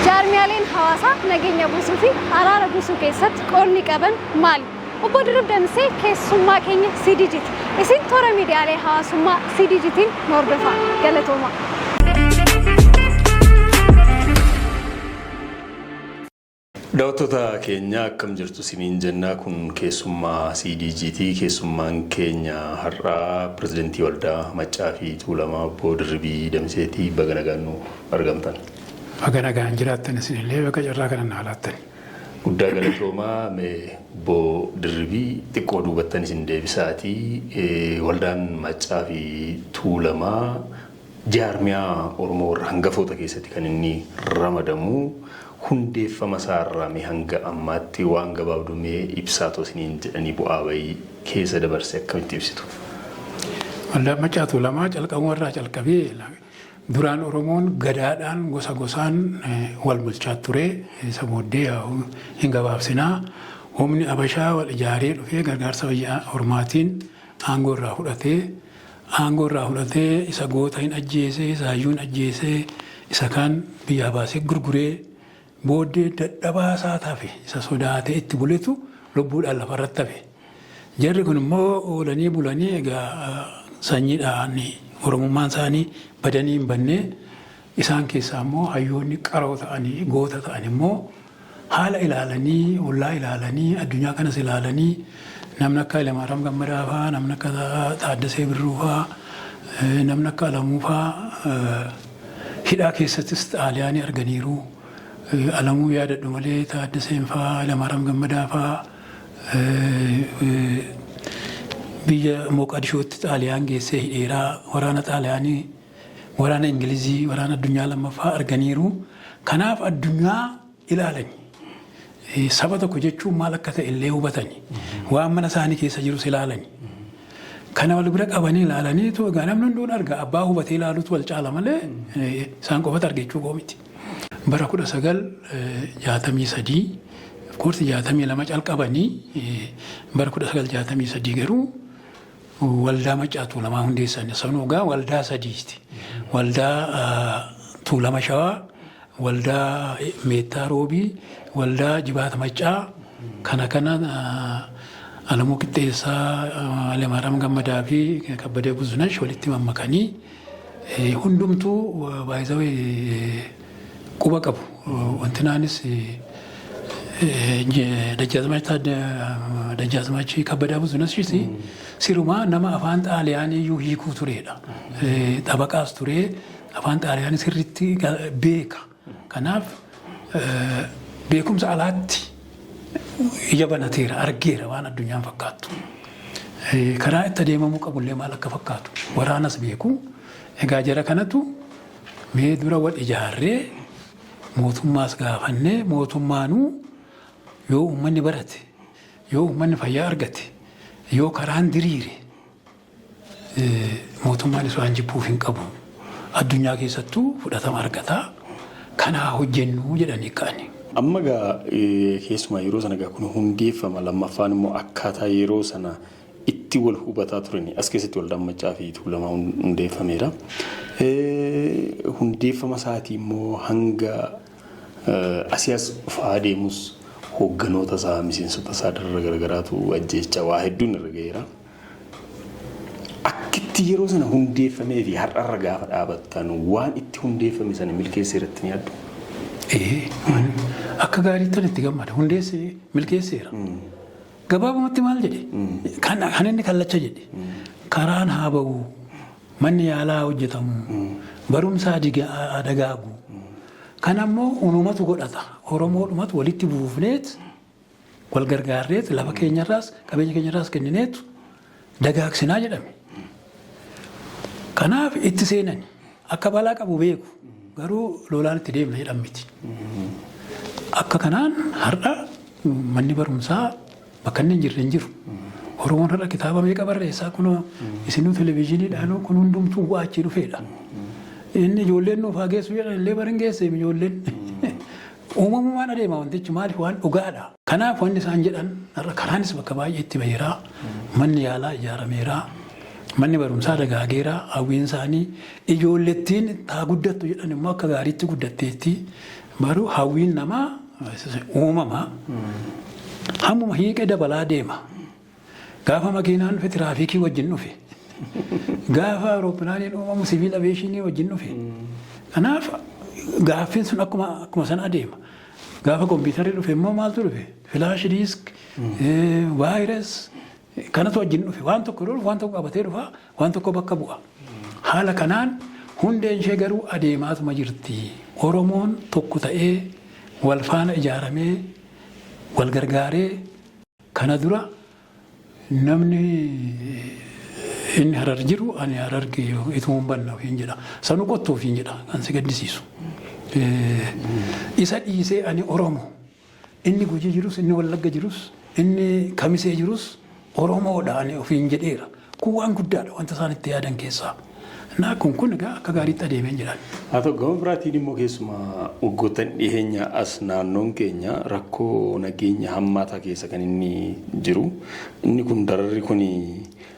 Jaarmiyaaleen hawaasaa nageenya buusuu fi araara buusuu keessatti qoodni qaban maali? Obbo Dirrib Damsee keessummaa keenya CDGT. Isin toora miidiyaalee hawaasummaa CDGTiin nu hordofaa. Galatoomaa. Dawattoota keenya akkam jirtu siniin jenna kun keessummaa CDG ti keessummaan keenya har'aa Pirezidantii Waldaa Maccaa fi Tuulamaa Obbo Dirribii Damisee ti baga nagaan nuuf argamtan. Baga nagaan jiraattan isinillee baga carraa kana naa laattani. Guddaa galatoomaa mee Obbo Dirribii xiqqoo duubattan isin deebisaati Waldaan Maccaa fi Tuulamaa Jaarmiyaa Oromoo warra hangafoota keessatti kan inni ramadamu hundeeffama isaa irraa mee hanga ammaatti waan gabaabduu mee ibsaa too isiniin jedhanii bu'aa ba'ii keessa dabarse akkamitti ibsitu? Waldaa Maccaa Tuulamaa calqabuma irraa calqabee duraan Oromoon gadaadhaan gosa gosaan wal bulchaa ture. Isa booddee yaa'u hin gabaabsinaa. Humni Abashaa wal ijaaree dhufee gargaarsa biyya ormaatiin aangoo irraa fudhatee Aangoo irraa fudhatee isa goota hin ajjeesee, isa hayyuu hin ajjeesee, isa kaan biyyaa baasee gurguree booddee dadhabaa isaa hafe isa sodaatee itti buletu lubbuudhaan lafa irratti hafe. Jarri kun immoo oolanii bulanii egaa sanyiidhaan Oromummaan isaanii badanii hin bannee isaan keessaa immoo hayyoonni qaroo ta'anii goota ta'an immoo Haala ilaalanii, ollaa ilaalanii, addunyaa kanas ilaalanii namni akka Hayilamaaraam Gammadaa faa, namni akka Taaddasee Birruu faa, namni akka Alamuu faa hidhaa keessattis Xaaliyaanii arganiiru. Alamuu yaadadhu malee Taaddaseen faa, Hayilamaaraam Gammadaa faa biyya Mooqaadishootti Xaaliyaan geessee hidheera. Waraana Xaaliyaanii Waraana Ingilizii, Waraana Addunyaa Lammaffaa arganiiru. Kanaaf addunyaa ilaalani. Saba tokko jechuun maal akka ta'e illee hubatani. Waan mana isaanii keessa jirus ilaalani. Kana wal bira qabanii ilaalaniitu egaa namni hunduun arga abbaa hubatee ilaaluutu wal caala malee isaan qofatu arge jechuu koo miti. Bara kudha sagal jaatamii sadii koorsi jaatamii lama calqabanii bara kudha sagal jaatamii sadii garuu Waldaa Maccaa Tuulamaa hundeessan. Sanuu egaa waldaa sadiisti. Waldaa Tuulama Shawaa, waldaa Meettaa Roobii, waldaa Jibaata Maccaa kana kana Alamuu Qixxeessaa, Hailemaariyaam Gammadaa fi Kabbadee Buzunash walitti mammakanii hundumtuu by the way quba qabu. Wantinaanis Dajjaazmaachii Kabbadaa Buzunasis sirumaa nama afaan xaaliyaanii iyyuu hiikuu tureedha. Xabaqaas turee afaan xaaliyaanii sirriitti beeka. Kanaaf beekumsa alaatti ija banateera argeera waan addunyaan fakkaattu. Karaa itti adeemamuu qabullee maal akka fakkaatu waraanas beeku. Egaa jara kanatu Mee dura wal ijaarree mootummaas gaafannee mootummaanuu yoo uummanni barate, yoo uummanni fayyaa argate, yoo karaan diriire mootummaanis waan jibbuuf hin qabu. Addunyaa keessattuu fudhatama argata. Kanaa hojjennuu jedhanii ka'ani. Amma egaa keessumaa yeroo sana egaa kun hundeeffama lammaffaan immoo akkaataa yeroo sana itti wal hubataa turani. As keessatti Waldaan Maccaa fi Tuulamaa hundeeffameera. Hundeeffama isaatii immoo hanga asii as dhufaa adeemus hoogganoota isaa, miseensota isaa darara garagaraatu ajjeechaa waa hedduun irra ga'eera. Akkitti yeroo sana hundeeffamee fi har'arra gaafa dhaabattan waan itti hundeeffame sana milkeessee irratti ni yaaddu? Akka gaariittan itti gammada. Hundeessee milkeesseera. Gabaabumatti maal jedhe? Kan kan inni kallacha jedhe karaan haa ba'u, manni yaalaa haa hojjetamu, barumsa haa diga- haa dagaagu. Kan ammoo unumatu godhata. Oromoodhumatu walitti buufneet wal gargaarreet lafa keenyarraas qabeenya keenyarraas kennineetu dagaagsinaa jedhame. Kanaaf itti seenani akka balaa qabu beeku garuu lolaan itti deemna jedhan miti. Akka kanaan har'a manni barumsaa bakka inni hin jirre hin jiru. Oromoon har'a kitaaba meeqa barreessaa kunoo isinuu televizyiiniidhaanuu kun hundumtuu bu'aa achii dhufeedha. Inni ijoolleen nuuf haa geessu jedhan illee bara hin geesseem ijoolleen. Uumamumaan adeema wantichi maaliif waan dhugaadha. Kanaaf wanni isaan jedhan har'a karaanis bakka baay'eetti baheera, manni yaalaa ijaarameera, manni barumsaa dagaageera, hawwiin isaanii ijoollettiin taa guddattu jedhan immoo akka gaariitti guddatteetti. Baruu hawwiin namaa uumama. Hammuma hiiqe dabalaa deema. Gaafa makiinaan dhufe tiraafiikii wajjin dhufe. Gaafa awurooppilaaniin uumamu siviil aviyeeshinii wajjin dhufe. Kanaaf gaaffiin sun akkuma akkuma sana adeema. Gaafa kompiitarri dhufe immoo maaltu dhufe? Filaash diisk, vaayiras kanatu wajjin dhufe. Waan tokko yeroo dhufu waan tokko qabatee dhufa, waan tokko bakka bu'a. Haala kanaan hundeen ishee garuu adeemaatuma jirti. Oromoon tokko ta'ee wal faana ijaaramee wal gargaaree Kana dura namni inni Harar jiru ani Hararge ituman banna ofiin jedha. Sanu kottu ofiin jedha kan si gaddisiisu. Isa dhiisee ani Oromo. Inni Gujii jirus, inni Wallagga jirus, inni Kamisee jirus Oromoodha ani ofiin jedheera. Kun waan guddaadha wanta isaan itti yaadan keessaa. Na, kun kun egaa akka gaariitti adeeme hin jedhan. Haa ta'u, gama biraatiin immoo keessumaa waggoottan dhiheenyaa as naannoon keenya rakkoo nageenya hammaataa keessa kan inni jiru. Inni kun dararri kun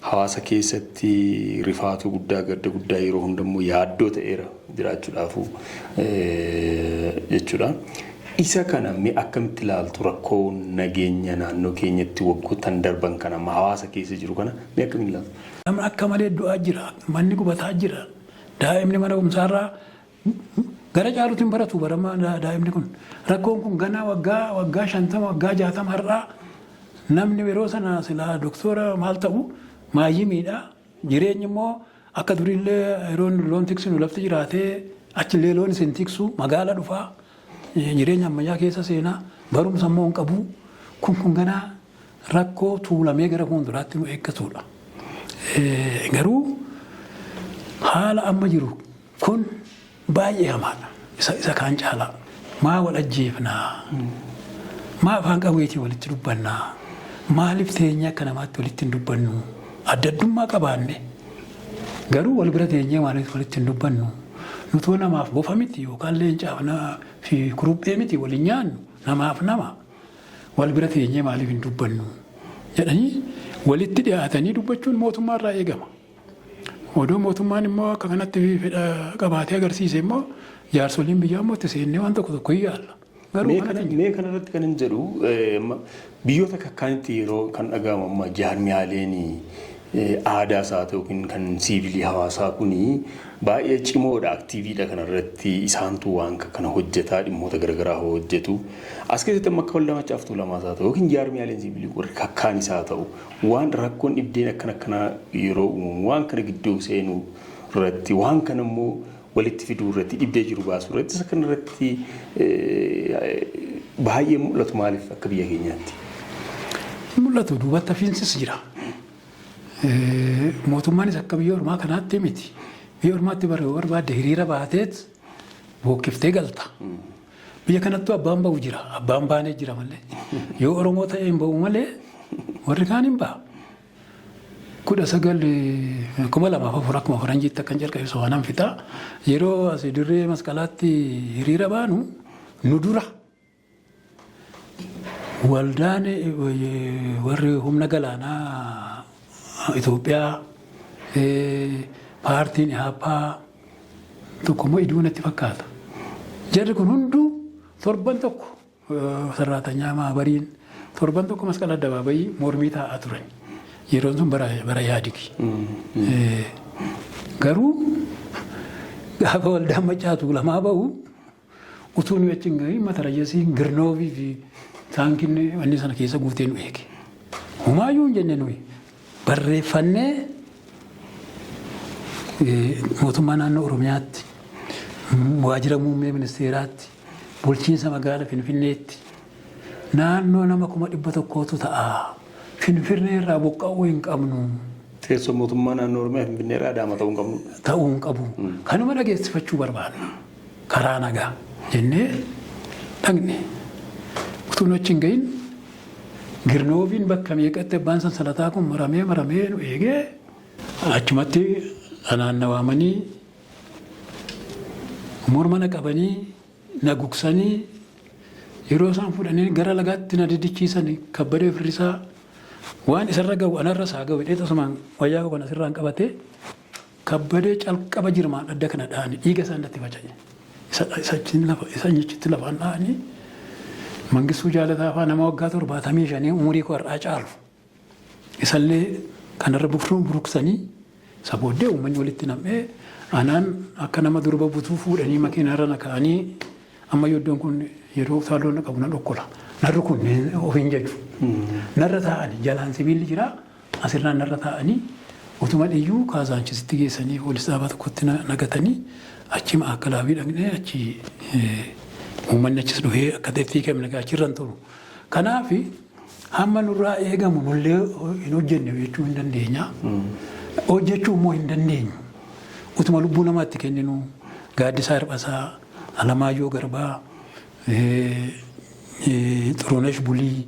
hawaasa keessatti rifaatuu guddaa, gadda guddaa yeroo hunda immoo yaaddoo ta'eera. jiraachuudhaafuu jechuudha. Isa kana mee akkamitti ilaaltu rakkoo nageenya naannoo keenyatti waggoottan darban kana amma hawaasa keessa jiru kana mee akkamiin ilaaltu? Namni akka malee du'aa jira, manni gubataa jira, daa'imni mana barumsaarraa gara caaluutu hin baratu bara amma daa'imni kun. Rakkoon kun ganaa waggaa waggaa shantama waggaa jaatama har'aa namni yeroo sana silaa doktoora maal ta'u maayyimiidha Jireenyi immoo akka duriillee yeroo nu loon tiksinu lafti jiraatee achillee loon isin tiksu magaala dhufa jireenya ammayyaa keessa seena barumsa immoo hin qabu kun kun ganaa rakkoo tuulamee gara fuulduraatti nu eeggatudha. Garuu haala amma jiru Kun baay'ee hamaadha. Isa isa kaan caalaa. Maa wal ajjeefna? Maa afaan qawweetiin walitti dubbanna? Maaliif teenyee akka namaatti walitti hin dubbannu? Adda addummaa qabaanne garuu wal bira teenyee maaliif walitti hin dubbannu? Nutoo namaaf bofa miti yookaan leencaaf na fi kuruphee miti wal hin nyaannu namaaf nama. Wal bira teenyee maaliif hin dubbannu? jedhanii walitti dhiyaatanii dubbachuun mootummaarraa eegama. Odoo mootummaan immoo akka kanatti fedha qabaatee agarsiise immoo jaarsoliin biyyaa immoo itti seennee waan tokko tokko hin yaalla. Garuu Mee kana kanatti mee kana irratti kan hin jedhu eh, amma biyyoota akka akkaanitti yeroo kan dhaga'amu amma jaarmiyaaleen eh, aadaa isaa ta'u yookiin kan siivilii hawaasaa kun baay'ee cimoodha aktiiviidha kana irratti isaantu waan akka kana hojjetaa dhimmoota garaagaraa hojjetu as keessatti amma akka waldaa macaaftuu lamaa isaa ta'u yookiin jaarmiyaaleen siivilii warri kakkaan isaa ta'u Waan rakkoon dhibdeen akkan akkanaa yeroo uumamu waan kana gidduu seenuu irratti waan kana immoo walitti fiduu irratti dhibdee jiru baasuu irratti isa kana irratti baay'ee mul'atu maaliif akka biyya keenyaatti? Mul'atu duubatti hafiinsis jira. Mootummaanis akka biyya ormaa kanaatti miti. Biyya ormaatti bara barbaadde hiriira baateet bookkiftee galta. Biyya kanattuu abbaan ba'u jira. Abbaan baanee jira malee. Yoo Oromoo ta'ee hin ba'u malee warri kaan hin ba'a. Kudha sagal kuma lamaaf afur akkuma faranjiitti akkan jalqabe sobaanaan fixaa. Yeroo as dirree masqalaatti hiriira baanu nu dura waldaan warri humna galaanaa Itoophiyaa paartiin Ihaappaa tokko immoo iduu natti fakkaata. Jarri kun hunduu torban tokko sarraatanyaa maabariin torban tokko masqala addabaabayii mormii taa'aa turan. Yeroon sun bara bara yaadigi. Garuu gaafa waldaan macaatuu lamaa bahu Utuu nuyi achi hin gahiin matarayasiin Girnoovii fi taankiin wanni sana keessa guutee nu eege. Humaayyuu hin jenne nuyi barreeffannee mootummaa naannoo Oromiyaatti, waajjira muummee ministeeraatti, bulchiinsa magaala Finfinneetti naannoo nama kuma dhibba tokkootu ta'a. Finfinnee irraa buqqa'uu hin qabnu. Teessoo mootummaa naannoo Oromiyaa Finfinnee irraa Adaama ta'uu hin qabnu. Ta'uu hin qabu. Kanuma dhageessifachuu barbaadu. karaa nagaa jennee dhaqne. Utuu nu achi hin gahin Girnooviin bakka meeqatti abbaan sansalataa kun maramee maramee nu eegee achumatti anaan na waamanii morma na qabanii na gugsanii yeroo isaan fudhanii gara lagaatti na diddichiisan kabbadee firrisaa waan isarra ga'u anarra isaa ga'u jedhee tasumaan wayyaa koo kana sirraan qabatee Kabbadee calqaba jirmaan adda kana dhahanii dhiiga isaa irratti faca'e. Isa achiin lafa isa achitti lafaan dhahanii Mangistuu Jaalataa fa'aa nama waggaa torbaatamii shanii umurii koo har'aa caalu isallee kanarra bufruu buruksanii isa booddee uummanni walitti nam'ee anaan akka nama durba butuu fuudhanii makiinaarra na ka'anii ammayyuu iddoon kun yeroo utaaloo na qabu na dhokkola. Narri kun ofiin jedhu. Narra taa'anii jalaan sibiilli jira As irraa narra taa'anii utuma dhiyyuu Kaazaanchisitti geessanii poolis dhaabaa tokkotti na gatanii achii Ma'aakalaawii dhaqnee achii uummanni achis dhufee akka ta'etti hiikamne egaa achirra hin turu. Kanaaf hamma nurraa eegamu nullee hin hojjenne jechuu hin dandeenya. Hojjechuu immoo hin dandeenyu. Utuma lubbuu namaa itti kenninu Gaaddisaa Hirphasaa, Alamaayyoo Garbaa, Xurunesh Bulii,